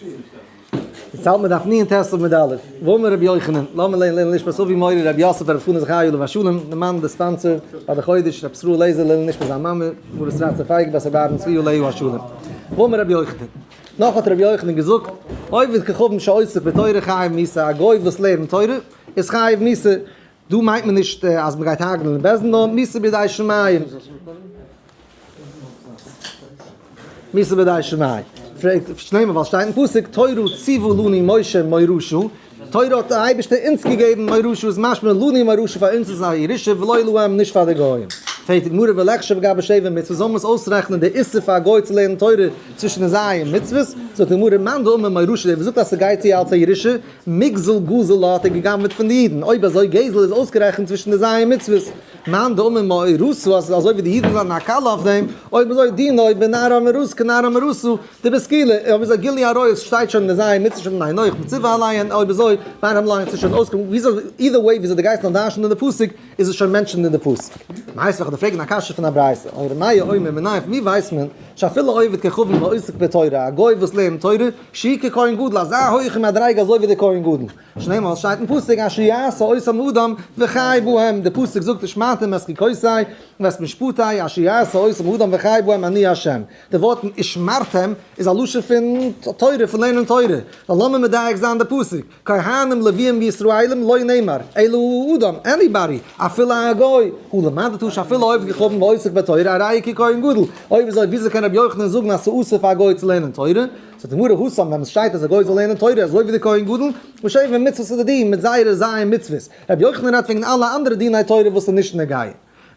די צייט מען דארף ניען תסב מיט די אלף. ואמר רבי יוחנן, למה ליה ליה נשפז אבי מורי רבי יוסף רבי פנחס חיו עליו השלום, די מאן די ספאנסער פאר די חודש, רבי ישראל לייזער ליה נשפז זיין מאמע, מרת רצה פייג בת רבי אהרן צבי עליהו השלום. ואמר רבי יוחנן, נאך האט רבי יוחנן געזאגט, עובד כחבן שעוסק בתורה חייב מיתה, א גוי וואס לערנט תורה איז חייב מיתה, דא מיינט מען נישט אז מען גייט הארגענען אין בעסטן נאר מיתה בידי שמים. מיתה בידי שמים. פרעגט שלמה ווייל שטייט אין פסוק תורה ציוו לני משה מורשו, תורה האט דער אייבערשטער אונז געגעבן מורשו איז משמע לני מורשו פאר אונז איז א ירושה ולא להם נישט פאר די גוים. פרעגט די גמרא ולחשב וגר בשבע מצוות זאל מען עס אויסרעכענען די איסור פאר א גוי צו לערנען תורה צווישן די ז' מצוות, זאגט די גמרא מאן דאמר מורשו דער וואס זאגט אז ס'גייט צו אלס א ירושה מגזל גזל האט ער גע'גנב'עט פון די אידן, אויב אזוי גזל איז אויסגערעכנט צווישן די זייער מצוות, מאן דאמר מאה רסו אז ס'איז אזוי ווי די אידן זענען א קלע אויף דעם, אויב אזוי דינא אויב בין נערה מרוסה כנערה מרוסה, די ביסט קילע, אויב איז א גילוי עריות שטייט שוין אין די זייער מצוות שוין אין הינוך מצווה אליין, אויב אזוי ביינעם לאנגט זיך שוין אויסקומען, וויאזוי אידער וועי וויאזוי די גייסט נאר דרש'נען אין די פסוק איז עס שוין מענטשען אין די פסוק. מיינסט וועכענדיג פרעגן א קשיא פון א ברייתא, און רמיה אומר מנין פון ווי ווייסט מען שאפילו עובד ככבוד ועוסק בתורה א גוי וואס לערנט תורה, שי' ככהן גדול, אזא הויכע מדריגה אזוי ווי דער כהן גדול. שנאמאל שטייט אין פסוק אשר יעשה אותם אדם וחי בהם, דער פסוק זאגט ושמעתם את חוקותי ואת משפטי אשר יעשה אותם אדם וחי בהם אני השם. די ווארטן ושמרתם איז א לשון פון תורה, פון לערנען תורה. נאר לאמיר מדייק זיין די פסוק. כהנים לוויים וישראלים לא נאמר אלא הוא אדם עניבאדי אפילו א גוי הוא למד תוש אפילו עובד ככהן ועוסק בתורה א ראיה ככהן גדול אויב אזוי וויאזוי קען רבי יוחנן זאגן אז ס'אסור פאר א גוי צו לערנען תורה זאגט די גמרא הוסמ ווען עס שטייט אז א גוי זאל לערנען תורה אזוי ווי די כהן גדול וואס שעיווען מצוות איז די דין מיט זייערע זיין מצוות רבי יוחנן רעדט וועגן אלע אנדערע דיני תורה וואס איז נישט נוגע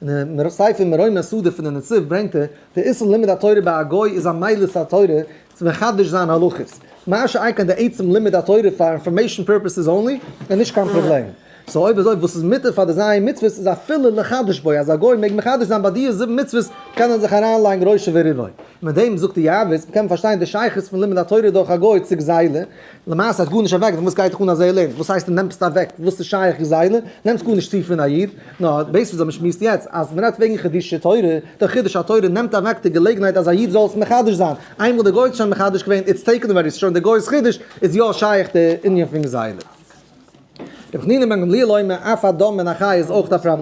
אין די ספר מרומי הסעודה פון די נציב ברענגט ער, די איסור לימוד התורה ביי א גוי איז א מעלת התורה צו מחדש זיין הלכות, מה שאין כן די עצם לימוד התורה פאר אינפארמעישאן פורפעסעס אנלי איז נישט קיין פראבלעם, סאו אויב אזוי וואס איז מותר פאר די ז' מצוות איז אפילו לחדש בו, אז א גוי מעג מחדש זיין ביי דיע זיבן מצוות קען ער זיך אריינלייגן ראשו וריבו, מיט דעם זאגט יעבץ, מ'קען פארשטיין די שייכות פון לימוד התורה דורך א גוי צו גזילה, למעשה האט גארנישט אוועק פון וואס גייט דיך אן א זעהל אין וואס הייסט נעמסט אוועק וואס איז שייך איך זעהל אין נעמסט גארנישט צו פון א איד נאר בעת וואס מען שמועסט יעצט אז מען רעדט וועגן חידושי תורה דער חידוש התורה נעמט אוועק די געלעגנהייט אז א איד זאל עס מחדש זיין איינמאל דער גוי האט עס שוין מחדש געווען איטס טעיקן אווער איז שוין דער גוי'ס חידוש איז יא שייך די ענין פון זעהל אין. רבי חנינא בן גמליאל אומר אף א דם מן החי איז אויך א פרמ.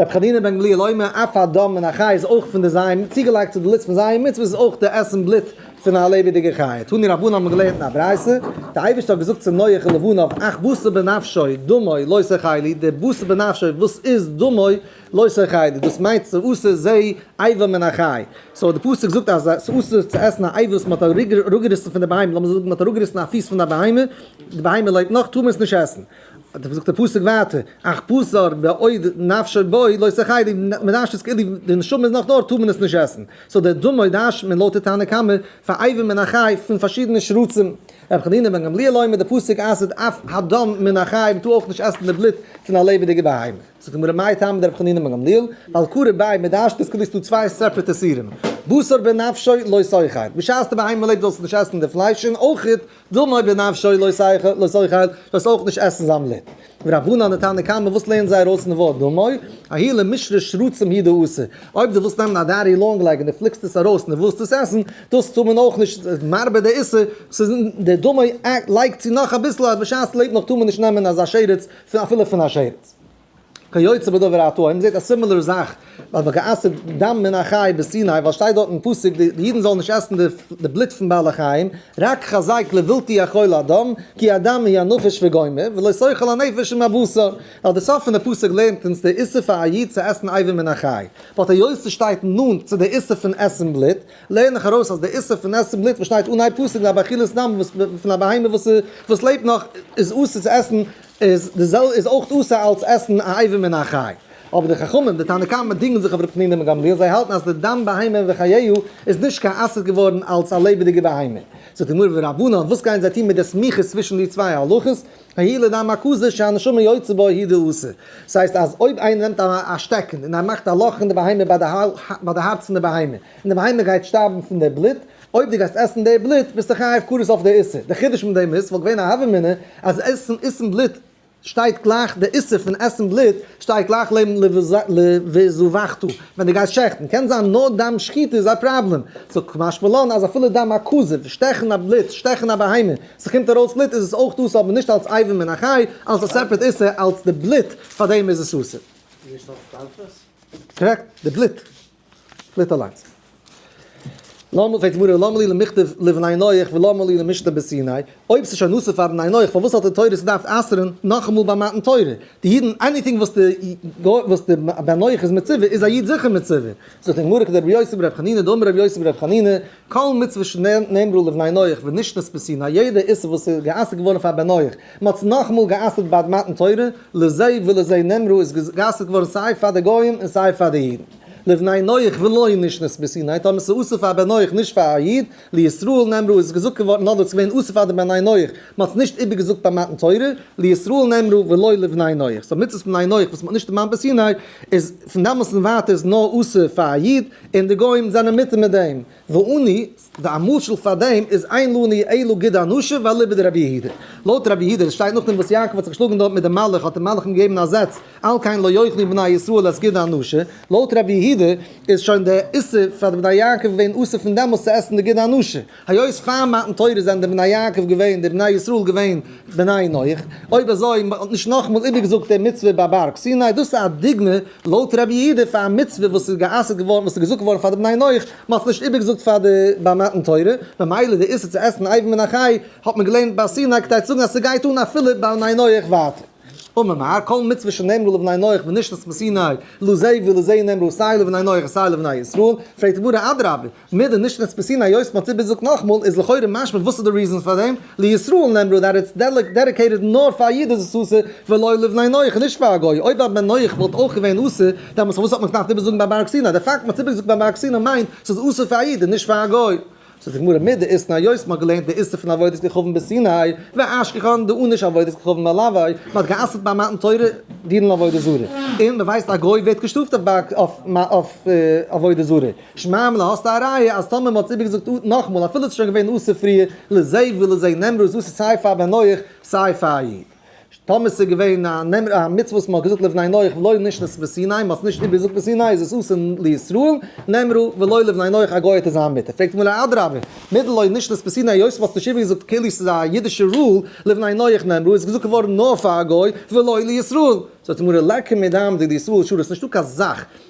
רבי חנינא בן גמליאל אומר, אף א דם מן החי איז אויך פון די זיון, צוגעלייגט צו די לוסט פון זיון מצוות איז אויך די עסן בלוט פון א לעבעדיגע חיה. תני רבנן האט מען געלערנט אין א ברייתא, די אייבערשטער האט געזאגט צו נח און לבניו, אך בשר בנפשו, דמו, לא סכי לי, די בשר בנפשו וואס איז דמו, לא סכי לי, דאס מיינט צו אסור זיי איבר מן החי, סאו די פסוק זאגט אז עס איז אסור צו עסן א איבר וואס מען האט אראפגעריסן פון די בהמה, לאמיר זאגן מען האט אראפגעריסן א פיס פון א בהמה, די בהמה לעבט נאך, טאר מען עס נישט עסן. האט ער געזאגט די פסוק ווייטער, אך בשר בעוד נפשו בו לא תחיה, מען דארשט עס כאילו די נשמה איז נאך דארט טאר מען עס נישט עסן, סאו די אדמה דארשט מען לויט די תנא קמא פאר אייוועלט מן החי פון פארשידענע שרצים, רבי חנינא בן גמליאל אומר די פסוק אסר'ט אף הדם מן החי מען טאר אויך נישט עסן די בלוט פון א לעבעדיגע בהמה, זאגט די גמרא מאי טעמא דרבי חנינא בן גמליאל, ווייל קרוב ביי מען דארשט עס כאילו ס'איז דא צוויי סעפרעט איסורים, בשר בנפשו לא תחיה, בשעת די בהמה לעבט זאלסטו נישט עסן די פלייש און אויך דמוי בנפשו לא שכל לא שכל, זאלסט אויך נישט עסן זיין בלוט. ורבנן די תנא קמא וואס לערנט זיי ארויס פון די ווארט דמוי, האי למשרה שרצים היא דאסור, אויב דו ווילסט נעמען א דיירי לאנג לעג און דו פליקסט עס ארויס און דו ווילסט עס עסן, דאס טאר מען אויך נישט, ס'איז מרבה די איסור, ס'איז אין די דמוי לייג צו נאך אביסל אז בשעת ס'לעבט נאך טאר מען נישט נעמען אזא שרץ אפילו פון א שרץ. כיוצא בדבר האתוה, מען זעט א סימילער זאך ביי וגעסר דם מן החי בסיני, ווייל סשטייט דארט אין פסוק די אידן זאלן נישט עסן די בלוט פון בעלי חיים, רק חזק לבלתי אכול אדם, כי אדם היא הנפש וגומר, ולא סוחל הנפש עם הבשר, ווייל די סוף פון די פסוק לערנט אונז די איסור פאר א איד צו עסן אייבים מן החי, באט היות סשטייט נאנט צו די איסור פון עסן בלוט, לערן איך ארויס אז די איסור פון עסן בלוט וואס שטייט אנהייב פסוק לגבי אכילת דם פון א בהמה וואס לעבט נאך איז אסור צו עסן איז די זעלבע איז אויך אסור אלץ עסן א עיבור מן החי. אבער די חכמים, די תנא קמא דינגען זיך אויף רבי חנינא בן גמליאל, זיי האלטן אז די דם בהמה וחייה איז נישט קיין אסור געווארן אלץ א לעבעדיגע בהמה. זאגט די גמרא ורבנן וואס גייען זיי טון מיט די סמיכות צווישן די צוויי הלכות, הי' לדם הכזית שהנשמה יוצא בו הי' די אסור. ס'הייסט אז אויב איינער נעמט א שטעקן און ער מאכט א לאך אין די בהמה ביי די הארץ פון די בהמה און די בהמה גייט שטארבן פון די בלוט, אויב דו גייסט עסן די בלוט ביסטו חייב כרת אויף די איסור, די חידוש מיט דעם איז ס'וואלט געווען א הוה אמינא אז עסן עסן בלוט שטייט גלייך די איסור פון עסן בלוט שטייט גלייך לעבן ל ו זבחתו ווען דו גייסט שעכטן, קען זיין נאר דם שחיטה איז א פראבלעם, סאו כמשמע לן אז אפילו דם הכזב, שטעכן א בלוט, שטעכן א בהמה, ס'קומט ארויס בלוט איז עס אויך אסור אבער נישט אלס אייבים מן החי, אלס א סעפערעט איסור, אלס די בלוט פאר דעם איז עס אסור. נישט אלס טרפות? קארעקט, די בלוט. פליט אליינס. למה פרעגט די גמרא למה לי למכתב לבני נח ולמה לי למשנה בסיני, אויב ס'איז שוין אסור פאר בני נח פארוואס האט די תורה עס געדארפט אסר'ן נאכאמאל ביי מתן תורה? די אידן עניטינג וואס די וואס די בן נח איז מצווה איז א איד זיכער מצווה. זאגט די גמרא כדרבי יוסי ברבי חנינא דאמר רבי יוסי ברבי חנינא כל מצוה שנאמרו לבני נח ונשנית בסין א יעדע איסור וואס איז גע'אסר'ט געווארן פאר בן נח, מען האט עס נאכאמאל גע'אסר'ט בעת מתן תורה, לזה ולזה נאמרו איז גע'אסר'ט געווארן סיי פאר די גויים און סיי פאר די אידן. לבני נח ולא נשנית בסין היית אומר ס'איז אסור פאר בן נח נישט פאר א איד, לישראל נאמרו איז געזאגט געווארן נאר דאס איז געווען אסור פאר די בני נח, מען האט עס נישט איבערגעזאגט ביים מתן תורה, לישראל נאמרו ולא לבני נח, סאו מצוות בני נח וואס מען האט נישט דערמאנט בסיני איז פון דאמאלס און ווייטער איז נאר אסור פאר א איד, און די גוים זענען מיט מיט דעם, ואני, די א משל פאר דעם איז אין לא נהי' אלא גיד אנשיו ואליבא דרבי יהודה, לויט רבי יהודה, עס שטייט נאכדעם וואס יעקב האט זיך געשלאגן דארט מיט די מלך האט די מלך אים געגעבן א זעץ, על כן לא יאכלו בני ישראל את גיד אנשיו, לויט רבי יהודה איז שוין די איסור פאר די בני יעקב געווען אסור פון דעמאלס צו עסן די גיד אנשיו. היות פאר מתן תורה זענען די בני יעקב געווען די בני ישראל געווען בני נח, אויב אזוי מען האט נישט נאכאמאל איבערגעזאגט די מצוה ביי בארג סיני, דאס איז א דוגמה לויט רבי יהודה פאר א מצוה וואס איז גע'אסר'ט געווארן וואס איז געזאגט געווארן פאר די בני נח, מען האט עס נישט איבערגעזאגט פאר די ביי מתן תורה, ממילא די איסור צו עסן אייוועלט מן החי האט מען געלערנט ביי סיני כדי צו זאגן אז ס'גייט אן אפילו ביי בני נח ווייטער. ומאמר כל מצוה שנאמרו לבני נח ונשלחת מסיני, לא זי ולא זי נאמרו סיי לבני נח סיי לבני ישראל, פרעגט די גמרא אדרבה, מיט די נישט רעספעסין היות מ'האט צוגעזאגט נאכמאל איז לכאורה משמע וואס איז די ריזען פאר דעם, לישראל נאמרו דעט איטס דעדיקעיטעד נאר פאר א איד איז עס אסור ולא לבני נח נישט פאר א גוי, אויב א בן נח וואלט אויך געווען אסור דעמאלטס פארוואס האט מען עס געדארפט איבערזאגן ביי בארג סיני, די פאקט מ'האט עס איבערגעזאגט ביי בארג סיני מיינט ס'איז אסור פאר א איד און נישט פאר א גוי. זאגט די גמרא מיט די איסנא היות מ'האט געלערנט די איסור פון עבודת כוכבים בסיני והשכחן די עונש עבודת כוכבים על עווי, מ'האט גע'אסר'ט ביי מתן תורה דיון על עבודה זרה, און מ'ווייסט א גוי ווערט געשטראפט אויף עבודה זרה. שמערמלע, האסט א ראיה אז טאמער מ'האט עס איבערגעזאגט נאכמאל אפילו עס איז שוין געווען אסור פריער, לזה ולזה נאמרו, דאס איז סיי פאר בן נח סיי פאר א איד. טאמער עס איז געווען א מצוה וואס מ'האט געזאגט לבני נח ולא נשנית בסיני, מ'האט עס נישט איבערגעזאגט בסיני איז עס אסור לישראל, נאמרו ולא לבני נח א גוי האט עס זיין מותר. פרעגט מיר א אדרבה, מיט לא נשנית בסיני היות מ'האט עס נישט איבערגעזאגט כאילו עס איז א אידישע רול, לבני נח נאמרו איז געזאגט געווארן נאר פאר א גוי ולא לישראל. זאגט די גמרא, לקי מדם דיד ישראל שורש, נישטא קיין זאך.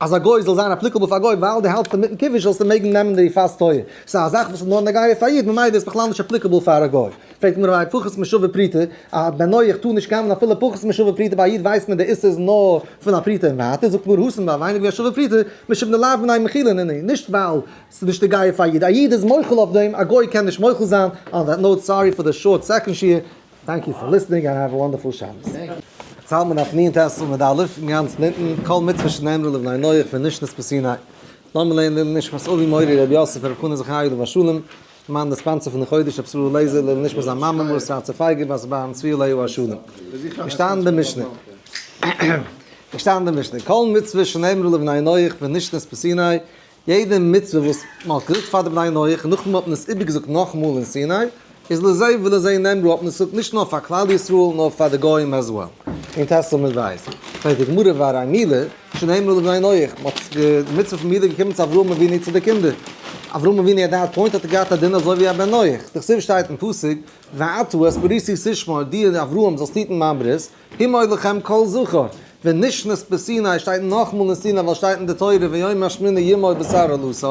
אז א גוי זאל זיין אפליקעבל פאר א גוי ווייל די האלטסט אינמיטן קידוש זאלסטו מעגן נעמען די פאסט טויער, סא א זאך וואס איז נאר נוגע פאר א איד ממילא איז בכלל נישט אפליקעבל פאר א גוי. פרעגט די גמרא פחות משווה פרוטה, א בנוי איך טאר נישט קאווען אפילו פחות משווה פרוטה ביי א איד ווייסט מען די איסור איז נאר פון א פרוטה און ווייטער, זאגט גמרא הוסן ביי ווייניג ווי א שווה פרוטה משבנא לאו מנין מכילין הנה נישט ווייל ס'איז נישט נוגע פאר א איד, א איד איז מוחל אויף דעם א גוי קען נישט מוחל זיין, אן דעט נאוט סארי פאר די שארט סעקאנד שיעור. טענק יו פאר ליסטענינג אנד העוו א וואנדערפול שבת. זלמן אויף נין טעסל מיט די אלופים אין גאנצן אונטן, כל מצוה שנאמרו לבני נח פון נשנות פסיני. לאמיר לערנען לעילוי נשמת אבי מורי ר' יוסף ר' חנא זכרי' עליו השלום, למען די ספאנסער פון די חודש ר' סרור לעזער, לעילוי נשמת זיין מאמע מרת רצה פייגא בת בן צבי עליו השלום. געשטאנען די משנה. געשטאנען די משנה. כל מצוה שנאמרו לבני נח פון נשנות פסיני. יעדע מצוה וואס מען האט געזאגט פאר די בני נח און נאכדעם האט מען עס איבערגעזאגט נאכאמאל אין סיני איז לזה ולזה נאמרו האט מען עס געזאגט נישט נאר פאר כלל ישראל נאר פאר די גוים עז וועל. אין טעסל מ ו שטייט די גמרא והרי מילה שנאמרו לבני נח מען האט די מצוה פון מילה געקומען צו אברהם אבינו צו די קינדער אברהם אבינו עט דעט פוינט האט ער געהאט א דין אזוי ווי א בן נח דער כתובה שטייט אין פסוק ואתו את בריתי תשמור דיר אברהם זאלסט היטן מיין ברית אם עוד לכם קול זכור, ונשנית בסיני שטייט נאכמאל אין סיני ווייל שטייט אין די תורה ויום השמיני ימות בשר אלוסי,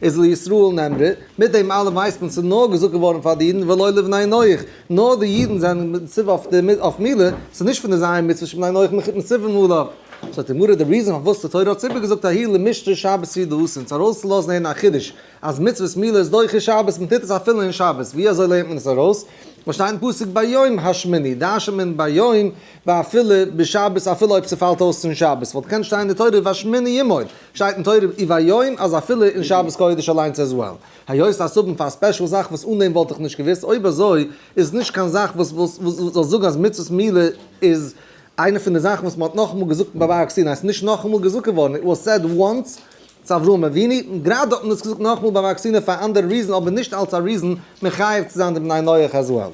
איז לישראל נאמרה, מיט דעם אלעם ווייסט מען ס'איז נאר געזאגט געווארן פאר די אידן ולא לבני נח, נאר די אידן זענען מצווה אויף מילא, ס'איז נישט פון די זייער מצוות שבני נח מ'כיפט מצווים עליו. זאגט די גמרא די ריזען פארוואס די תורה האט ציפי געזאגט ההיא למשתה שבת סידא עשין צו ארויסצולאזן הערן א חידוש אז מצוות מילה איז דוחה שבת, מען טוט עס אפילו אין שבת, ווי אזוי לערנט מען עס ארויס? וואס שטייט אין פסוק ביום השמיני, דרש'נט מען ביום ואפילו בשבת אפילו אויב ס'פאלט אויס צום שבת, וואלט געקענט שטיין אין די תורה והשמיני ימות, שטייט אין תורה אי והיום אז אפילו אין שבת קודש אליינס עז וועל. היות אז ס'אבן פאר א ספעשל זאך וואס אן דעם וואלט איך נישט געוואוסט, אויב אזוי איז עס נישט קיין זאך וואס וואס זאל זאגן אז מצוות מילה איז איינע פון די זאכן וואס מען האט נאכאמאל געזאגט ביי בארג סיני, ס'איז נישט נאכאמאל געזאגט געווארן, איט וואס סעד וואנס צו אברהם אבינו, און גראדע האט מען עס געזאגט נאכמאל ביי וואקסינען פאר א אנדערע ריזען אבער נישט אלץ א ריזען מחייב צו זיין די בני נח אז וועל.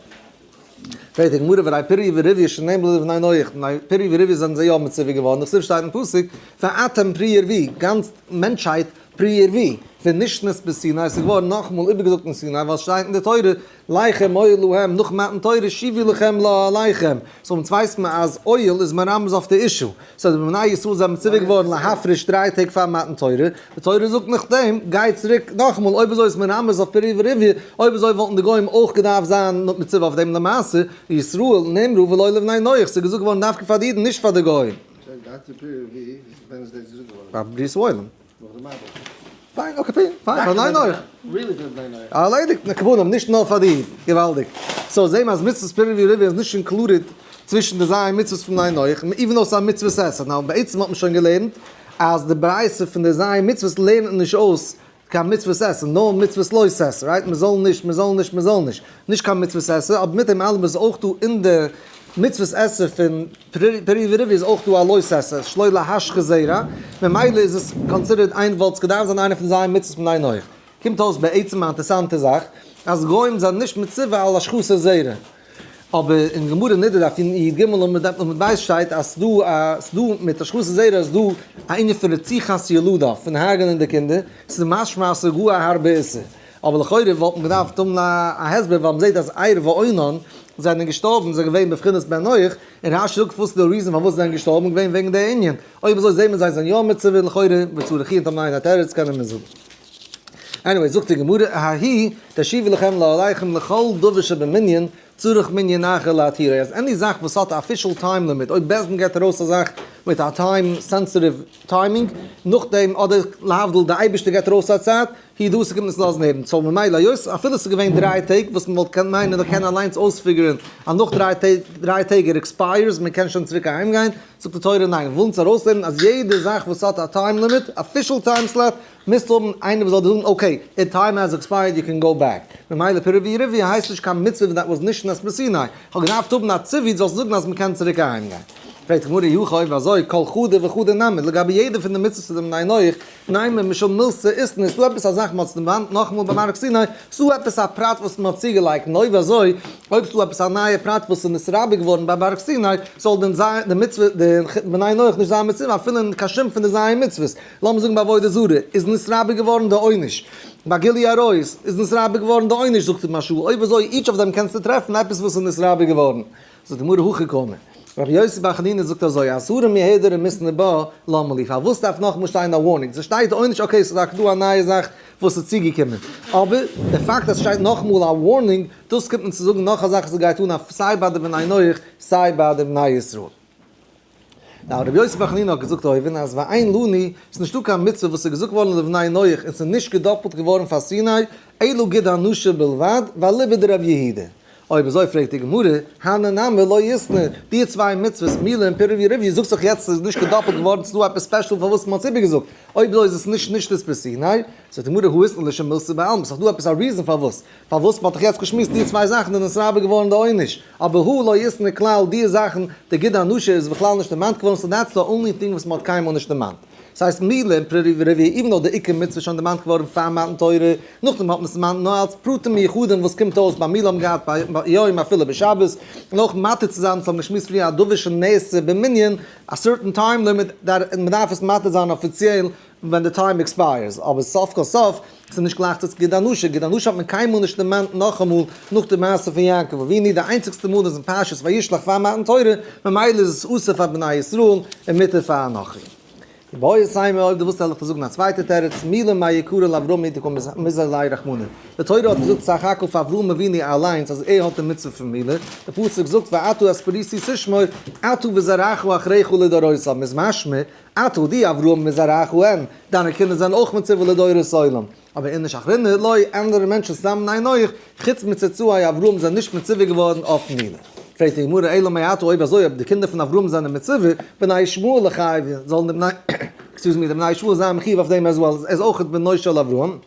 פרעגט די גמרא ודי פריה ורביה שאינן בלא די בני נח, בני פריה ורביה זענען זיי יא מצווה געווארן דאך סוף שטייט אין פסוק ואתם פרי ערבי, גאנץ מענטשהייט פרי ערבי, ונשנית בסיני, עס איז געווארן נאכמאל איבערגעזאגט אין סיני ווייל עס שטייט אין די תורה לחם אויל להם נאך מתן תורה שיבי לחם לא עליכם, סאו אונז ווייסט מען אז אויל איז מרמז אויף די אישו, סאו די בני ישראל זענען מצווה געווארן להפריש דריי טעג פאר מתן תורה, די תורה זאגט נאכדעם גיי צוריק נאכאמאל, אויב אזוי איז עס מרמז אויף פרי ורביה, אויב אזוי וואלטן די גוים אויך געדארפט זיין מצווה אויף דעם למעשה, לישראל נאמרו ולא לבני נח, ס'איז געזאגט געווארן דווקא פאר די אידן נישט פאר די גוים. שוין גיי צו פרי ורביה, ווען איז דאס געזאגט געווארן? פאר בריאת עולם. נאך די מיידל. פיין אקעי פיין פיין פאר ניין אויך. ריעלי גוד ניין אויך. ארלעדיגט נקבונים נישט נאר פאר די. געוואלדיג. סאו זעמער אז מצוות פרי ורבי איז נישט אינקלודעד צווישן די זיין מצוות פון ניין אויך איווען דאו עס א מצוות עשה נאו בעצם האט מען שוין געלערנט אז די ברייתא פון די זיין מצוות לערנט נישט אויס קיין מצוות עשה נאר מצוות לא תעשה רייט מען זאל נישט מען זאל נישט מען זאל נישט נישט קיין מצוות עשה, אבער מיט דעם אלעם איז אויך דא אין די מצוות עשה פון פרי ורבו איז אויך דא א לוי' עשה, שלא להשחית זרע, ממילא איז עס קאנסידערט איין וואלט עס געדארפט זיין איינע פון זיי מצוות מיין אויך. קומט אויס בעצם א אינטערסאנטע זאך, אז גוים זענען נישט מצווה על השחתת זרע, אבער אין גמרא נדה דף י י ג עמוד ב שטייט אז דא א אז דא מיט השחתת זרע איז דא א ענין פון רציחת ילודה, פון הרג'נען די קינדער, ס'איז משמע אז ס'איז גאר א הארבע איסור. אבער לכאורה וואלט מען געדארפט האבן א הסבר ווייל מ'זעט אז עיר ואונן זענען געשטארבן זענען געווען בבחינת בן נח און רש י קפצט די ריזען פארוואס זיי זענען געשטארבן איז געווען וועגן די ענין אויב אזוי זעט מען זיי זענען יא מצווה לכאורה וצריך יהיה תמיד א תירוץ קענען מיר זאגן עניוועי זאגט די גמרא האי תשיבו לכם לא עליכם לכל דבר שבמנין צריך מנין אחר להתירה, אז עני זאך וואס האט א אפישעל טיים לימיט, אויב בעסד געט ארויס א זאך מיט א טיים סענסעטיוו טיימינג, נאכדעם אדער להבדיל די אייבישטער געט ארויס א צייט, הי ד עס קומט נישט לאזן הערן, סאו ממילא היות אפילו עס איז געווען דריי טעג וואס מען וואלט קענט מיינען איך קען אליינס אויספיגערען אז נאך דריי טעג ער עקספייערס מען קען שוין צוריק אהיים גיין, זאגט די תורה ניין, ווילן אונז ארויסלערנען אז יעדע זאך וואס האט א טיים לימיט, אפישעל טיים סלאט, מוזט האבן איינער וואס זאל דיר זאגן אקעי, איר טיים העז עקספייערד יו קען גאו בעק. ממילא פירעווי ריווי הייסט נישט קיין מצוה ווען דעט וואס נישט נס מסיני. איך האב געדארפט האבן א ציווי דו זאלסט זאגן אז מ'קען צוריק אהיים גיין. פרעגט די גמרא היכי אויב אזוי כל חדה וחדה נמי לגבי יעדע פון די מצוות פון דעם ענין אויך, ניימער משל מילס צו איסטן איז דא עפעס א זאך מ'האט ס'נעוואנט נאכאמאל ביים הר סיני, ס'דא עפעס א פרט וואס מ'האט צוגעלייגט און אויב אזוי אויב ס'דא עפעס א נייע פרט וואס איז נתרבה געווארן ביים הר סיני זאל דען זיין די מצוה די ענין אויך נישט זיין מצוה אפילו אין קיין שום פון די ז' מצוות. לאמיר זאגן ביי עבודה זרה איז נתרבה געווארן די עונש, ביי גילוי עריות איז נתרבה געווארן די עונש, זאגט אים השו ע, אויב אזוי איטש אויף דעם קענסטו טרעפן עפעס וואס איז נתרבה געווארן, זאגט די גמרא הכי קמא, רבי יוסי בר חנינא זאגט אזוי, אסור מהדר ומשנא בא, למה לי, פארוואס דארף נאכאמאל שטיין א ווארנינג, ס'שטייט עונש אקעי ס'איז דאך דא א נייע זאך וואס איז צוגעקומען, אבער די פאקט אז ס'שטייט נאכאמאל א ווארנינג, דאס קומט מען צו זאגן נאך א זאך וואס גייט אן סיי ביי די בני נח סיי ביי די בני ישראל. נאר רבי יוסף בן חנינא האט געזאגט אויבן אז ביי איין לוני איז נישטא קיין מצוה וואס איז געזאגט געווארן לבני נח און ס'איז נישט געדאפלט געווארן פאר סיני אלא ג ד הנשה בלבד ואליבא דרב יהודה. אויב אזוי פרעגט די גמרא, הני נמי לא ישנא, די צוויי מצוות מילה און פירוב יריביו זאגט זיך יעצט ס'איז נישט געדאפלט געווארן ס'דא עפעס ספעשל פארוואס מ'האט עס איבערגעזאגט, אויב אזוי איז עס נישט נישט נישט פון סיני, זאגט די גמרא האיסנא לשם מילתא בעלמא ס'איז דא עפעס א ריזען פארוואס פארוואס מען האט דאך יעצט געשמועסט די צוויי זאכן איז נתרבה געווארן די עונש, אבער הוא לא ישנא כלל די זאכן די ג-ט ענושה איז בכלל נישט דערמאנט געווארן סאו דעטס די אנלי טינג וואס מען האט קיינמאל נישט דערמאנט. ס'הייסט מילא אין פר' רביעי איבן דאו די עיקר מצוה איז שוין דערמאנט געווארן פאר מתן תורה, נאכדעם האט מען עס דערמאנט נאר אלץ פרטים מיוחדים וואס קומט אויס ביי מילא האבן געהאט ביי יום אפילו ביי שבת, און אויך מתיר צו זיין וואס האבן געשמועסט פריער א דבר שנעשה במנין א סערטען טיים לימיט דארף מען דארף עס מתיר זיין אפיציעל ווען די טיים עקספייערס, אבער סוף כל סוף איז נישט גלייך צו גיט דיין נשא, גיט דיין נשא האט מען קיינמאל נישט דערמאנט נאכאמאל נאך די מעשה פון יעקב אבינו, די איינציגסטע מאל איז אין פרשת וישלח פאר מתן תורה, ממילא איז עס אסור פאר בני ישראל און מותר פאר אנכי. ובעוד סיימא אויב דו ווילסט העל איך דיר זאגן א צווייטע תירוץ, מילא מאי יקרא לאברהם מיתה כל מזרע לאי רחמנא, די תורה האט געזאגט סך הכל פאר אברהם אבינו אליינס אז ער האט די מצוה פון מילא, די פסוק זאגט ואתה את פריסי תשמור אתה וזרעך אחריך לדורותיו, איז משמע אתה די אברהם מזרעך הם, דיינע קינדער זענען אויך מצווה לדורות עולם. אבער אין איש אחר נהיט לוי, אנדערע מענטשן סתם ניין אויך, חוץ מצאצאי אברהם זענען נישט מצווה געווארן אויף מילה. פרעגט די גמרא אלא מאי אתה אויב אזוי אויב די קינדער פון אברהם זענען מצווה, בני ישמעאל לחייבין, זאלן די בני, עקסקיוז מי, די בני ישמעאל זיין מחיוב אויף דעם עז וועל, ער איז אויך בנו של אברהם.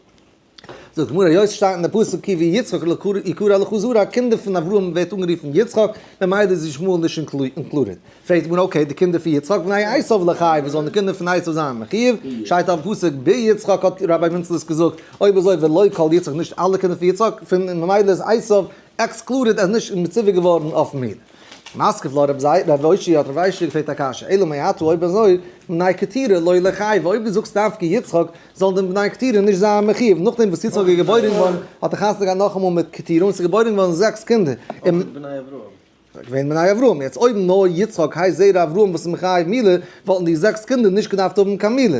זאגט די גמרא יוש שטייט אין די פסוק כי ויצחק יקרא לך זרע א קינדער פון אברהם ווערט אנגערופן יצחק ממילא איז ישמעאל נישט אינקלודעד פרעגט די גמרא אקעי די קינדער פון יצחק בני עשיו לכי וואס זאלן די קינדער פון עשיו זיין מכי שטייט אויפן פסוק ביצחק האט רבי מנצליס געזאגט אויב אזוי ולא כל יצחק נישט אלע קינדער פון יצחק פון ממילא איז עשיו עקסקלודעד ער איז נישט מצווה געווארן אויף מילא. משכיל לרב זיי רב אוישי האט רב איישי געפרעגט א קשיא אלא מאי הטו אויב אזוי בני קטירה לא לחייב אויב דו זאגסט דווקא יצחק זאלן די בני קטירה נישט זיין מחיוב נאכדעם וואס יצחק איז געבוירן געווארן האט ער חתונה געהאט נאכאמאל מיט קטירה און ס'איז געבוירן געווארן זעקס קינדער אויך מיט בני אברהם ס'איז געווען בני אברהם יעצט אויב נאר יצחק הייסט זרע אברהם וואס איז מחייב מילה וואלטן די זעקס קינדער נישט געדארפט האבן קיין מילה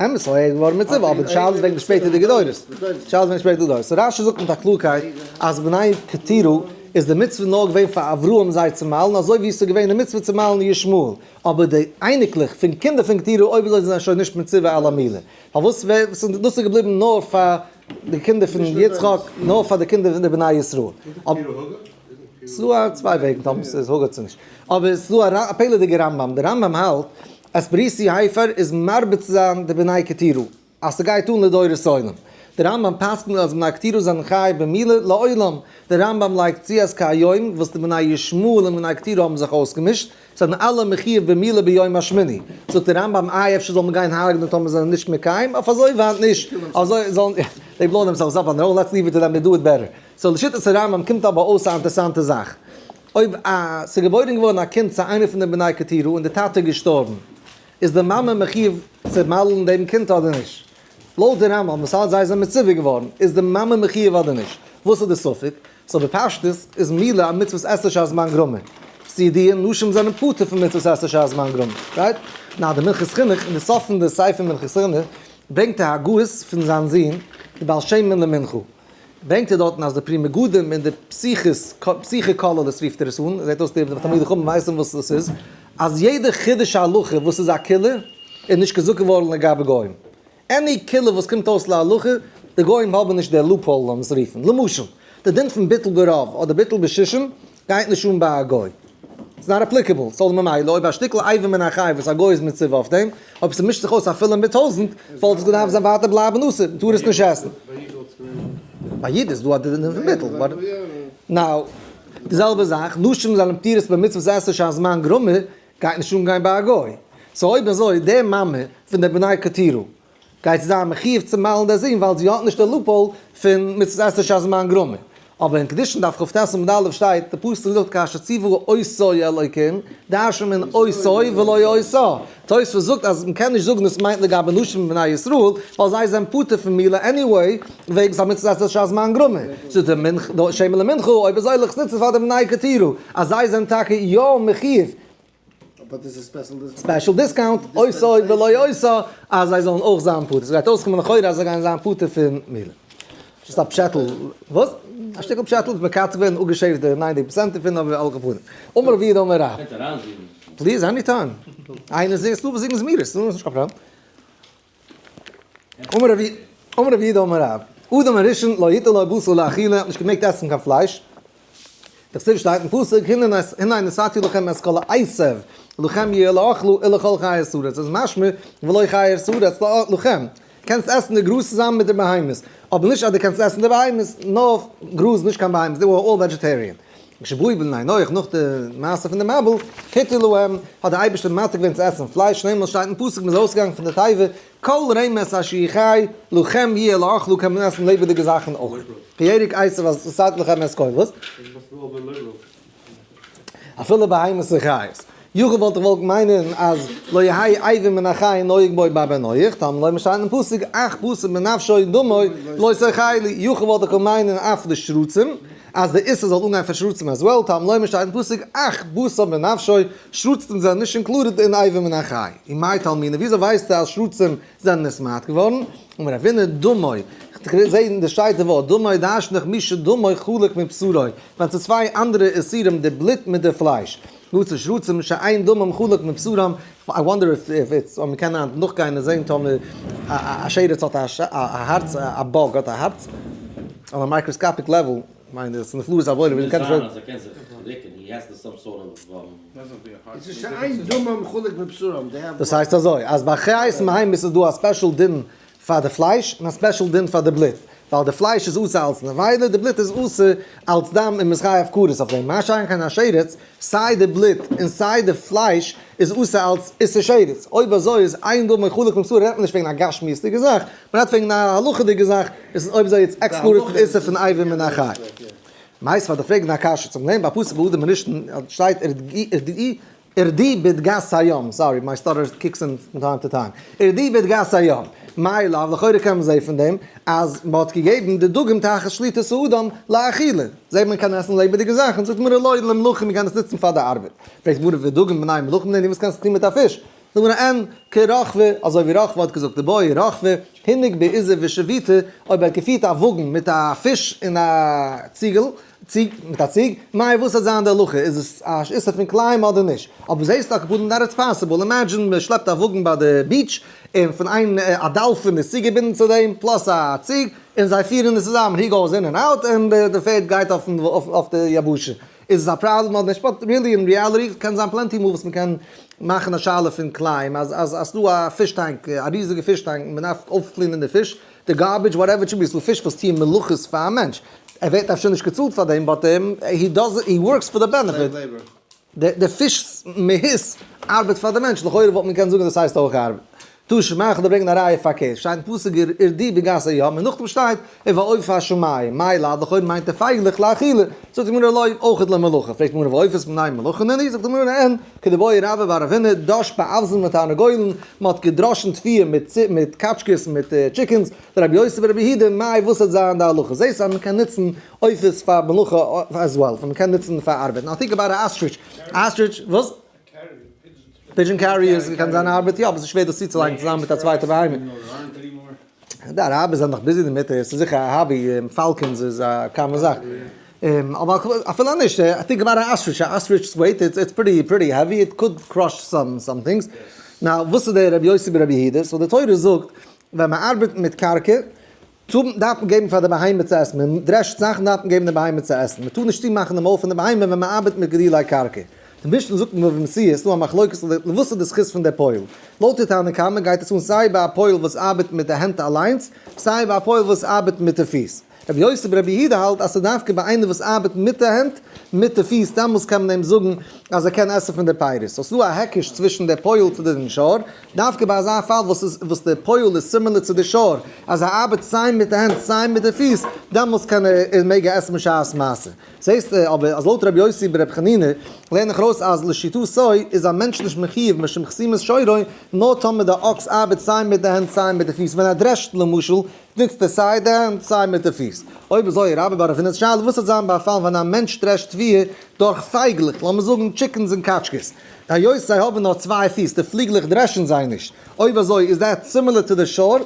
אמת ס'איז אויך געווארן מצוה אבער די שאלה איז וועגן די שפעטערדיגע דורות, די שאלה איז וועגן שפעטערדיגע דורות, סאו רשי זאגט מיט א קלארקייט אז בני קטירא איז די מצוה נאר געווען פאר אברהם זיי צו מיילן אזוי ווי עס איז געווען די מצוה צו מיילן ישמעאל, אבער די אייניקלעך פון קינדער פון קטירא אויב אזוי זענען זיי שוין נישט מצוה אלא מילה, פארוואס ווען דאס איז געבליבן נאר פאר די קינדער פון יצחק, נאר פאר די קינדער פון די בני ישראל. ס'איז דא צוויי וועגן טאמער ס'איז הגה צו נישט, אבער ס'איז דא א פלא'דיגע רמב ם, די רמב ם האלט אספריסי הייפער איז מרביץ זיין די בני כתירו אז ס'גייט אן לדורות עולם. דער רמב ם פסקנט אז בני כתירו זענען חי במילה לעולם. דער רמב ם לייגט צו אז כהיום וואס די בני ישמעאל און בני כתירו האבן זיך אויסגעמישט, זענען אלע מחיוב במילה ביום השמיני. זאגט דער רמב ם איי אפשר זאל מען גיין הרג'נען טאמער זיי זענען נישט מקיים? אויף אזוי ווייט נישט. אזוי זאלן זיי בלאוין דעמסעלווס אפ אן די ראוד, לעטס ליוו איט טו דעם די דו איט בעטער. סאו לשיטת הרמב ם קומט אבער אויס א אינטערסאנטע זאך. אויב א ס'איז געבוירן געווארן א קינד צו איינער פון די בני כתירו און די טאטע איז געשטארבן, איז די מאמע מחיוב צו מל'ן דעם קינד אדער נישט? לויט די רמב ם וואס האלט זיי זענען מצווה געווארן, איז די מאמע מחיוב אדער נישט? וואס איז די ספק? סאו בפשטות איז מילא א מצוות עשה שעת זמן גרמא. ס'איז ידוע נשים זענען פטור פון מצוות עשה שעת זמן גרמא, רייט? נאר די מנחת חינוך אין די סוף פון די ספר מנחת חינוך ברענגט א הגהות פון זיין זון די בעל שם מ למנחו. ברענגט ער דארטן אז די פרי מגדים און די פסיכיס פסיכי כוללות רופט ער עס אן, זעט אויס די תלמידי חכמים ווייסן וואס דאס איז, אז יעדע חידוש הלכה וואס איז א כולה איז נישט געזאגט געווארן לגבי גוים, עני כולה וואס קומט אויס להלכה, די גוים האבן נישט די לופהאל לאז אונז רופן, למשל, די דין פון ביטול ברוב אדער ביטול בשישים גייט נישט אן ביי א גוי. איטס נאט אפליקעבל, סאו ממילא אויב א שטיקל אייוועלט מן החי וואס א גוי איז מצווה אויף דעם, אויב ס'מישט זיך אויס אפילו מיט טויזענט, וואלט עס געדארפט זיין ווייטער בלייבן אסור, מ'טאר עס נישט עסן. ביי איד איז דא א דין פון ביטול. נאו. די זעלבע זאך, נשים זענען פטורות ביי מצוות עשה שהזמן גרמא, גייט נישט אן גיין ביי א גוי. סאו אויב אזוי, די מאמע פון די בני קטירא, גייט זי זיין מחיוב צו מיילן דער זון ווייל זי האט נישט די לופהאל פון מצות עשה שהזמן גרמא. אבער אין קדושין דף כט עמוד א' שטייט, די פסוק זאגט כאשר ציוו עושי אלוקים, דרשו מן עושי ולא עושה. תוספות זאגט אז מען קען נישט זאגן דאס מיינט לגבי נשים מבני ישראל, ווייל זיי זענען פטור פון מילה עניוועי, וועגן ס'א מצות עשה שהזמן גרמא. זאגט דער מנח ד שמא למנחה אויב אזוי לכ' ניצן פאר די בני כתרו אז זיי זענען טאקע יא מחיוב. אבער דאס איז ספעשל דיסקאונט. ספעשל דיסקאונט, עושה ולא יעשה, אז זיי זאלן אויך זיין פטור. ס'גייט אויסקומען לכאורה אז זיי גייען זיין פטור פון מילה. זשאסט א פשעטל. וואס? א שטיקל פשעטל וואס מ'קאצט ווען און אפגעשעפט די ניינטיג פראצענט דערפון אויף אלע פנים. אמר רבי יהודה אמר רב. פליז עני טיים. איינער זינגט, ס'דא וואס זינגען זמירות, ס'איז נישט קיין פראבלעם. אמר רבי אמר רבי יהודה אמר רב אדם הראשון לא היתה לו בשר לאכילה האט נישט געמעגט עסן קיין פלייש דאס איז שטייט אין פסוק הנה נס הנה נשאתי לכם את כל העשב לכם יהיה לאכלו אלא כל חיות הארץ איז משמע ולא חיות הארץ לא לכם קענסט עסן די גראז צוזאמען מיט די בהמות אבער נישט אז די קענסט עסן די בהמות נאר גראז נישט קיין בהמות די אר אלל וועדזשעטעריען כשבוי בן ניין אויך נאך די מעשה פון די מבול היתה להם האט די אייבערשטער מתיר געווען צו עסן פלייש שנעלמאל שטייט אין פסוק מ'איז ארויסגעגאנגען פון די תיבה כל רמס אשר יחי לכם יהיה לאכלו קען מען עסן לעבעדיגע זאכן אויך געהעריג עשו אז ס'האט לכם עסקולות אפילו בהמות וחיות יוכ וואלט איך געוואלט מיינען אז לא יהי' עיבין מן החי נוהג בו בא בן נח, טאמער לויט משל אינעם פסוק אך פסול בנפשו דמו לא סכי לי, יוכ וואלט איך געקענט מיינען אף די שרצים, אז די איסור זאל אנגיין פאר שרצים עז וועל, טאמער לויט משל אינעם פסוק אך בשר בנפשו, שרצים זענען נישט אינקלודעד אין עיבין מן החי. און מאי תעלמינא, וויאזוי ווייסטו אז שרצים זענען נסמאדט געווארן? אמר רב הונא, דמו, כ'זע אין די שטייט די ווארט דמו דאשנך מי שדמו חלק מבשרו, ווען ס'איז צוויי אנדערע איסורים די בלוט מיט די פלייש, נאנצע שרצים שאין דמם חלק מבשרם, איי וואנדער איף איטס, אויב מ'קען היינט נאכגיין און זען טאמער א שרץ האט א הארץ, א באג האט א הארץ, אויף א מייקראסקאפיק לעוועל, כ'מיין דאס נפלאות עבודה ווי מ'קען נישט אויב. מוז זיין אז ער קען זיך ריקען, הי העז טו סאם סארט אוו. שאין דמם חלק מבשרם. דאס הייסט אזוי, אז ביי חיות מים איז עס דא א ספעשל דין פאר די פלייש, און א ספעשל דין פאר די בלוט, ווייל די פלייש איז אסור אלץ נבילה, די בלוט איז אסור אלץ דם און מען איז חייב כרת אויף דעם, מה שאין כן א שרץ, סיי די בלוט און סיי די פלייש איז אסור אלץ איסור שרץ, אויב אזוי איז איין דא מחולק בבשר, רעדט מען נישט וועגן א גשמיות'דיגע זאך, מען רעדט וועגן א הלכה'דיגע זאך, עס איז אויב אזוי יעצט עקסקלודירט פון איסור פון עיבור מן החי. מאיסט פאר די פרעגן א קשיא צום לענ ב א פסוק ביהודה מרשתן שטייט ר ד ג י, ער די בית גאס היום, סארי מיי סטאטער קיקס אין פון טיים טו טיים, ער די בית גאס היום, מאי לאו, לכאורה קען מען זעהן פון דעם אז מען האט געגעבן די דגים תחת שליטת האדם לאכילה, זעהט מען קען עסן לעבעדיגע זאכן, זאגט גמרא לא למלכים מען קען עס נוצן פאר די ארבעט, פרעגט גמרא ודגים בני מלכים נענין וואס קענסטו טון מיט א פיש, זאגט גמרא אין כ רחבה, אזוי ווי רחבה האט געזאגט די באי רחבה, הינק בעיזה ושביתה, אויב ער האט געפירט א וואגן מיט א פיש אין א ציגל, ציג מיט א ציג, מאיר וואס זאל זיין די הלכה? איז עס א איסור פון קלעים אדער נישט? אבער זעהסט דאך כיבוד אנדערע איז פאסיבעל, אימעדזשין מען שלעפט א וואגן ביי די ביעטש און פון איין א דאלפין איז צוגעבינדן צו דעם פלאס א ציג און זיי פירן עס צוזאמען הי גאוס אין ענד אוט און די פערד גייט אויף די יבשה, איז עס א פראבלעם אדער נישט? באט ריעלי אין ריעליטי קען זיין פלענטי מאל וואס מען קען מאכן א שאלה פון קלעים אז אז עס איז דא א פיש טאנק א ריזיגע פיש טאנק און מען דארף אויפקלינען די פיש די גארבידזש וואטעווער איט שוד בי אסאל פיש וואס טוען מלאכות פאר א מענטש, ער ווערט אפשר נישט געצאלט פאר דעם באט הי דאז הי ווארקס פאר די בענעפיט, די פיש מהות ארבעט פאר די מענטש, לכאורה וואלט מען געקענט זאגן דאס הייסט אויך ארבעט. טשע מאנכע דא ברענגן א ראיה פארקערט, שטייט אין פסוק ער איז די בגסה ים און נאכדעם שטייט ער והעוף השמים, מאי לד לכאורה מיינט ער פייגלעך לאכילה, זאגט די גמרא לא אויך למלאכה, פרעגט די גמרא ועופות מנין מלאכה'נני, זאגט די גמרא אין כדברי רבא ביי רבינא, דאש באבזן מיט תרנגולן, מען האט געדראשן תפיעה מיט קאטשקעס און מיט טשיקענס, רבי יוסף און רבי הידא, מאי וואס וועט זיין די הלכה? זעהסט אז מען קען נוצן עופות פאר מלאכה עז וועל, מען קען נוצן פאר ארבעט, נאר טאקע ביי די אסטריטש, אסטריטש, וואס? פידזשען קעריערס, קען זיין ארבעט יא, אבער ס'איז שווער דאס צוצולייגן צוזאמען מיט א צווייטע בהמה. די אראבער זענען דאך ביזי דערמיט, ס'איז זיכער א האבי, פאלקאנס איז א קאמאן זאך. אבער אפילו נישט, טינק אבאוט א אסטריטש, א אסטריטש איז ווייט, איטס פריטי העווי, איט קאוד קראש סאם סאם טינגס. נאו וואס איז דער רבי יוסי בן רבי הידא? סאו די תורה זאגט ווען מען ארבעט מיט קרקע טאר דארף מען געבן פאר די בהמה צו עסן, מען דרעשט זאכן דארף מען געבן די בהמה צו עסן, מען טאר נישט צומאכן די מויל פון די בהמה ווען מען ארבעט מיט גדולי קרקע. די משנה זאגט אין בבא מציעא, ס'דא א מחלוקת אדער וואס איז די זכות פון די פויל. לויט די תנא קמא גייט עס אן סיי ביי א פויל וואס ארבעט מיט די הענט אליינס, סיי ביי א פויל וואס ארבעט מיט די פיס. רבי יוסי בר רבי יהודה האלט אז ס'איז דווקא ביי איינער וואס ארבעט מיט די הענט, מיט די פיס, דעמאלס קען מען אים זאגן אז ער קען עסן פון די פירות. סאו ס'דא א היקש צווישן די פויל צו די נשאר, דווקא ביי אזא פאל וואס איז וואס די פויל איז סימילער צו די נשאר, אז ער ארבעט סיי מיט די הענט סיי מיט די פיס, דעמאלס קען ער, מעג ער עסן בשעת מעשה. זעסט אבער אז לויט ר' יוסי בן ר' חנינא לערן איך ארויס אז לשיטתו איז א מענטש נישט מחיוב משום חסימת שורעו נאר טאמער די אקס ארבעט סיי מיט די הענט סיי מיט די פיס ווען ער דרעשט למשל ניצט ער סיי די הענט סיי מיט די פיס אויב אזוי רבי בארעפינער'ס שאלה וואס וועט זיין ביי פאלן ווען א מענטש דרעשט פיר דורך פייגלעך לאמיר זאגן טשיקענס און קאטשקעס היות זיי האבן נאר צוויי פיס די פליגלעך דרעשן זיי נישט אויב אזוי איז דעט סימילער טו די שור?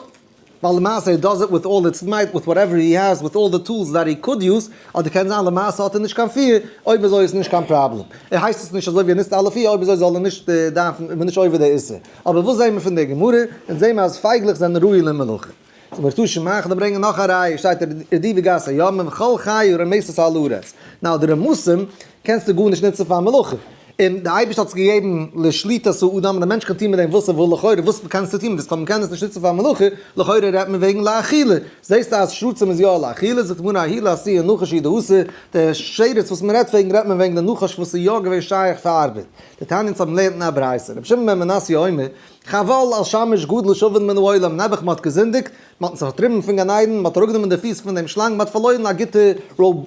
ווייל למעשה הי דאז איט וויט אלל איטס מייט וויט וואטעווער הי העז וויט אלל די טולס דעט הי קאד יוז, אדער קען זיין למעשה האט ער נישט קיין פיר, אויב אזוי איז נישט קיין פראבלעם, ער הייסט עס נישט אזוי ווי ער נוצט אלע פיר אויב אזוי זאל ער נישט דארפן איז מען נישט עובר די איסור, אבער וואס זעמער פון די גמרא, אונז זעמער אז פייגלעך זענען ראוי למלאכה. צו מיר טוישן מאכן און ברענגען נאך א ראיה שטייט רדי' וגז הימים וכל חי רמיסת הארץ, נאו די רמסים קענסטו גארנישט נוצן פאר מלאכה, און דער אייבערשטער האט עס געגעבן לשליטת האדם, און דער מענטש קען טון מיט דעם וואס ער וויל, לכאורה וואס קענסטו טון מיט עס, טאמער מ'קען עס נישט נוצן פאר מלאכה, לכאורה רעדט מען וועגן לאכילה, זעסטו אז שרצים איז יא לאכילה, זאגט די גמרא אהילה אסיר און נחש אידא אסור, דער שרץ וואס מ'רעדט וועגן רעדט מען וועגן די נחש וואס איז יא געווען שייך פאר ארבעט, די תניא צו האבן לערנט אין א ברייתא, רבי שמעון בן מנסיא אומר, חבל על שמש גדול שווין מן העולם, נעבעך מען האט געזינדיגט, מען האט אונז פארטריבן פון גן עדן, מען האט אראפגענומען די פיס פון דעם שלאנג, מען האט פארלוירן א גוטע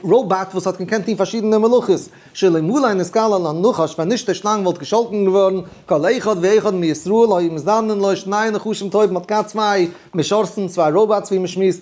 ראובאט וואס האט געקענט טון פארשידענע מלאכות, שלא מלאי נשכלה לנחש ווען נישט דער שלאנג וואלט געשאלטן געווארן כל אחד ואחד מישראל היו מזדנן לו שני נחשים טובים, מען האט געהאט צוויי משרתים, צוויי ראובאטס ווי מען שמועסט,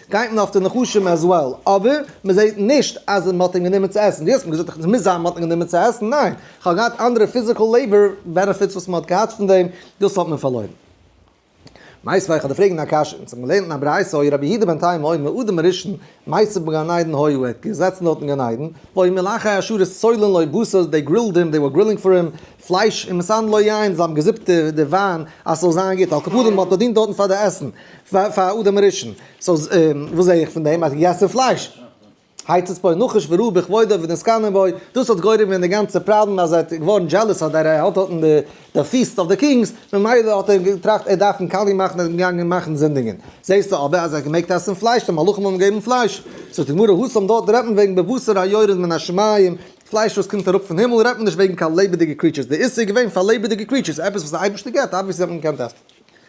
גייט מען אויף די נחשים עז וועל, אבער מען זעהט נישט אז מען האט אים גענומען צו עסן, דו האסט מיר געזאגט עס מוז זיין מען האט אים גענומען צו עסן, ניין, איך האב געהאט אנדערע פיזיקעל לעיבאר בענעפיטס וואס מען האט געהאט פון דעם, דאס האט מען פארלוירן. מייסט ווייל איך האב דיר פרעגן א קשיא, אונז האבן געלערנט אין א ברייתא אוי רבי יהודה בן תימא אוי מאדם הראשון מייסד בגן עדן הוי הוא ער האט געזעצן דארט אין גן עדן, ואוי מלאכי האשור סולין לו בשר, דעי גרילד הים, דעי ווער גרילינג פאר הים, פלייש און מסנ ל יין, זיי האבן געזופט די וויין אז ס'זאל זיין גוט, על קאפודים האט באדינט דארטן פאר די עסן, פאר אדם הראשון, סאו וואס זע איך פון דעם? אז געגעסן פלייש. היתד פה נחש וראה בכבודו ונזקנן בו, דאס האט גורם ווען די גאנצע פראבלעם אז ער האט געווארן דזשעלעס אז ער האט דארטן די פיסט אוו די קינגס, ממילא האט ער געטראכט ער דארף מקלל מאכן און געגאנגען מאכן זינדיגען. זעסטו אבער אז ער האט געמעגט עסן פלייש, די מלאכים האבן געגעבן פלייש. זאגט די גמרא, הוסם דארט רעדט מען וועגן בבשר היורד מן השמים, פלייש וואס קומט אראפ פון הימל רעדט מען נישט וועגן קיין לעבעדיגע קריטשערס, די איסור איז געווען פאר לעבעדיגע קריטשערס, עפעס וואס די אייבערשטער געבט, אבוויעסלי האט מען געקענט עסן.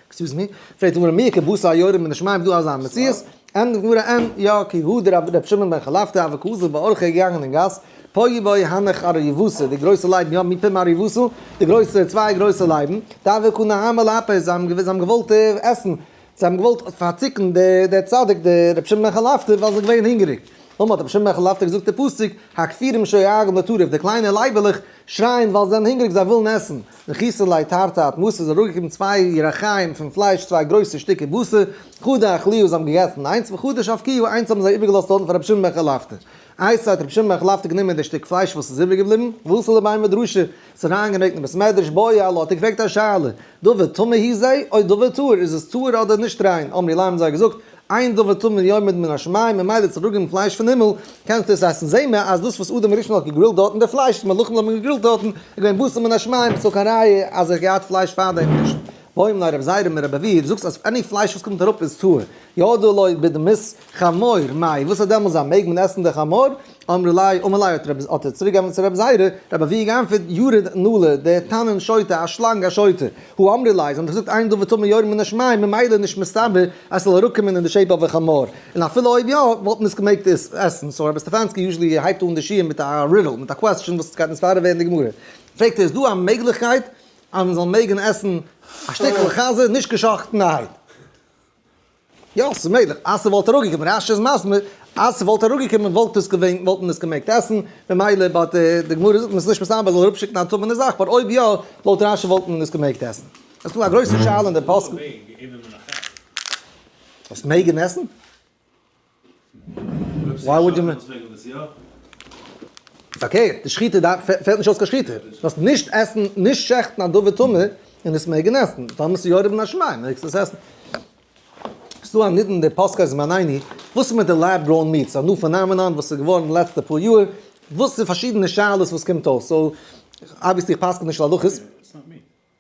עקסקיוז מי? פרעגט די גמרא מי כ בשר היורד מן השמים איז דא אזא מציאות? ענטפערט די גמרא ען, יא, כי הוא דער רבי ר' שמעון בן חלפתא אבק אוזל בה ארכה געגאנגען אין גאס, פה יבאי הנך אר יבוסי, די גרויסע לייבן יא, מפה מר יבוסו, די גרויסע, צוויי גרויסע לייבן, דבק הוא נהמא לאפי, זיי האבן געוואלט עסן, זיי האבן געוואלט פארציקן דער צדיק דער רבי שמעון בן חלפתא ווייל זיי געווען הונגעריג, אמאל האט רבי שמעון בן חלפתא געזאגט די פסוק הכפירים שואגין לטרף די קליינע לייבעלעך שרייען ווייל זיי זענען הונגעריג זיי ווילן עסן, נכיסין ליה תרתי את מסי זיי האבן אראפגעגעבן צוויי ירח חיים פון פלייש צוויי גרויסע שטיקער בשר, חדה אכליהו זיי האבן געגעסן איינס וחדה שפקיהו איינס האבן זיי איבערגעלאזט דארטן פאר רבי שמעון בן חלפתא, איי סא האט רבי שמעון בן חלפתא גענומען די שטיק פלייש וואס איז איבערגעבליבן, וואסע לביים ודרשה, זיך אריינגעמעקט אין בית מדרש בויע א לאט און געפרעגט א שאלה, דבר טמא היא זה? אויב דבר טהור איז עס טהור אדער נישט ריין? אמרי להם האבן זיי געזאגט, איין דבר טמא יורד מן השמים ממילא צו ראגען פלייש פון הימל קענסטו עס עסן, זעהן מיר אז דאס וואס אדם הראשון האט געגרילט דארטן די פלייש וואס מלאכים האבן געגרילט דארטן איז געווען בשר מן השמים איז דאך קיין ראיה אז ער האט געהאט פלייש פארדעם נישט. ואומר רב זיירא מיר רבי ווי דו זאגסט אז עני פלייש וואס קומט אראפ איז טהור, ידוע לו בדמות חמור, מאי וואס איז דעמאלס אז מעג מען עסן די חמור? אמרי ליה אמר ליה האט ער צוריק געענטפערט צו רבי זייערע, רבי אביי געענטפערט ירד נעלה דער תנין שוטה א שלאנג א שוטה, הוא אמרי ליה זיי האבן געזאגט עיין דבר טמא יורד מן השמים ממילא איז נישט מסתבר אז ס'זאל אראפקומען אין די שעיפ אוו א חמור, און אפילו אויב יא וואלט מען עס געמעגט עסן, סאו רבי סטעפאנסקי יוזשעלי הייבט אן די שיעור מיט א רידל, מיט א קוועסטשען וואס גייט נישט פארדעם ווערן די גמרא, פרעגט ער איז דא א מעגליכקייט אז מען זאל מעגן עסן א שטיקל חזה נישט גע'שחט'ן א הייד? יא, ס'איז מעגליך אז ס'וואלט אראפגעקומען, רש י איז מסביר אז ס'וואלט אראפגעקומען וואלט עס געווען, וואלט מען עס געמעגט עסן, ממילא באט די גמרא זאגט מ'איז נישט מסביר זאל אראפשיקן א טמא'נע זאך, באט אויב יא, לויט רש י וואלט מען עס געמעגט עסן. עס קומט א גרויסע שאלה אין די פסק. וואס מעג מען עסן? וואו וואלט די מנהל פרעגן דאס יא? פארקערט, די שחיטה דארף, פעלט נישט אויס קיין שחיטה, זאלסט נישט עסן, נישט שעכטן א דבר טמא און עס מעגן עסן, טאמער עס איז יורד מן השמים מעגסטו עס עסן. עס איז דא א נידון דער פסק אז מען עיני, וואס איז מיט די לעב גראון מיעט, ס'איז א ניו פענאמענאן וואס איז געווארן די לעצטע פאר יאר, וואס איז פארשידענע שאלות וואס קומט אויף, סאו אבוויעסלי איך פסק'ן נישט להלכות.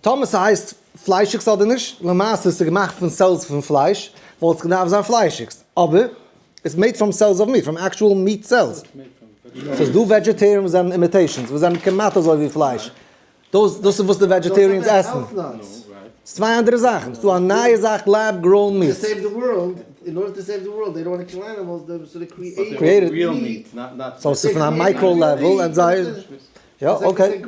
טאמער ס'הייסט פליישיגס אדער נישט, למעשה איז ס'געמאכט פון סעלס פון פלייש, וואלט עס געדארפט זיין פליישיגס, אבער איטס מעיד פראם סעלס אוו מיעט, פראם עקטשועל מיעט סעלס. ס'איז דא וועדזשעטעריען וואס זענען אימיטעישאנס, וואס זענען כמעט אזוי ווי פלייש. דאס דאס איז וואס די וועדזשעטעריענס עסן. ס'איז צוויי אנדערע זאכן. ס'דא א נייע זאך לעב גראון מיעט. קריעטעד. סאו ס'איז פון א מייקראו לעוועל און זיי. יא אקעי,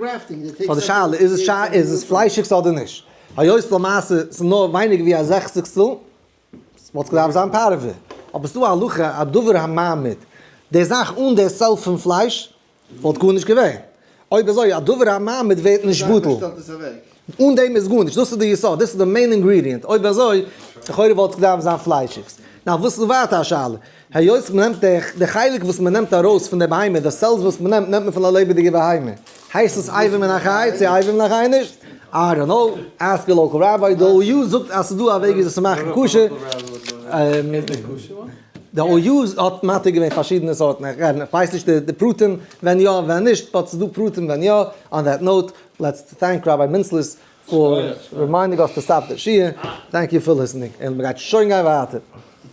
נאר די שאלה איז עס איז עס פליישיגס אדער נישט? היות למעשה ס'איז נאר ווייניגער ווי א זעכציגסטל, וואלט עס געדארפט זיין פארעווע, אבער ס'דא א הלכה א דבר הממית, די זאך אן די סעלף פון פלייש וואלט גארנישט געווען, אויב אזוי א דבר הממית ווערט נישט בטל. אן דעם איז גארנישט, דאס איז די יסוד, דאס איז די מעין אינגרידיענט, אויב אזוי לכאורה וואלט עס געדארפט זיין פליישיגס. נאר וואס איז ווייטער א שאלה, היות מ'נעמט דעך די חלק וואס מ'נעמט ארויס פון די בהמה, די סעלס וואס מ'נעמט, נעמט מען פון א לעבעדיגע בהמה, הייסט עס אייבים מן החי צו אייבים מן החי נישט? איי דאנט נאו, עסק יור לאקעל ראביי, די או יו זאגט אז ס'איז דא א וועג ווי אזוי צו מאכן כשר, די או יו האט מתיר געווען פארשידענע סארטן, כ'ווייס נישט די פרטים ווען יא ווען נישט, באט ס'איז דא פרטים ווען יא, אן דעט נאוט, לעטס טענק ראביי מינצליס פאר רימיינדינג אויס טו סטאפ די שיעור, טענק יו פאר ליסענינג, און מ'גייט שוין גיין ווייטער.